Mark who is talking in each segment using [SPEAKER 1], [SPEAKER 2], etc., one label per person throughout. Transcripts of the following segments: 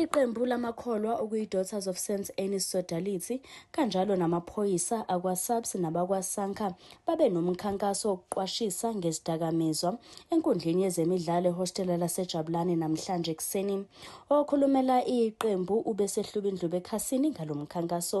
[SPEAKER 1] Iqembu lamakholwa okuyi-Daughters of St Anne's Sodality kanjalo namaphoyisa akwa-SAPS nabakwa-SANCA babe nomkhankaso wokuqwashisa ngezidakamizwa enkundleni yezemidlalo ehostela laseJabulani namhlanje ekuseni. Okhulumela iqembu ubesehlubindlube ekhasini ngalo mkhankaso.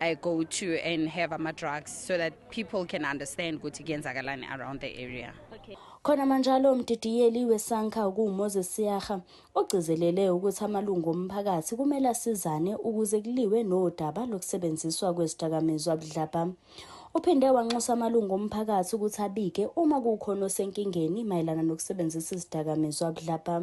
[SPEAKER 2] I go to and have ama drugs so that people can understand ukuthi kuyenzakalani around the area. Okay. Khona
[SPEAKER 1] manjalo umdidiyeli weSanka okuMoses Siyaga ogcizelele ukuthi amalungu omphakathi kumele asizane ukuze kuliwe nodaba lokusebenziswa kwezidakamizwa budlabha. Uphinde wanxusa amalungu omphakathi ukuthi abike uma kukhona osenkingeni mayelana nokusebenzisa izidakamizwa budlabha.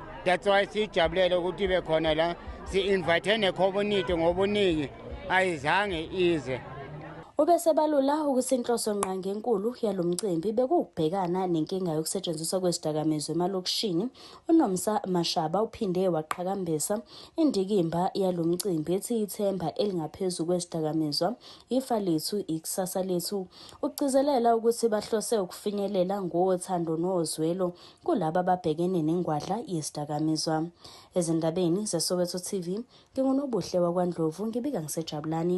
[SPEAKER 3] that's why siyijabulele ukuthi ibe khona la si-invithe nekhomuniti ngobuningi ayizange ize ubesebalula
[SPEAKER 1] ukuthi inhloso nqangi enkulu yalo mcimbi bekuwukubhekana nenkinga yokusetshenziswa kwezidakamizwa emalokishini unomsa mashaba uphinde waqhakambisa indikimba yalo mcimbi ethi ithemba elingaphezu kwezidakamizwa ifa lethu ikusasa lethu ukugcizelela ukuthi bahlose ukufinyelela ngothando nozwelo kulaba ababhekene nengwadla yesidakamizwa. Ezindabeni zeSoweto TV, nginguNobuhle waKwaNdlovu ngibika ngiseJabulani.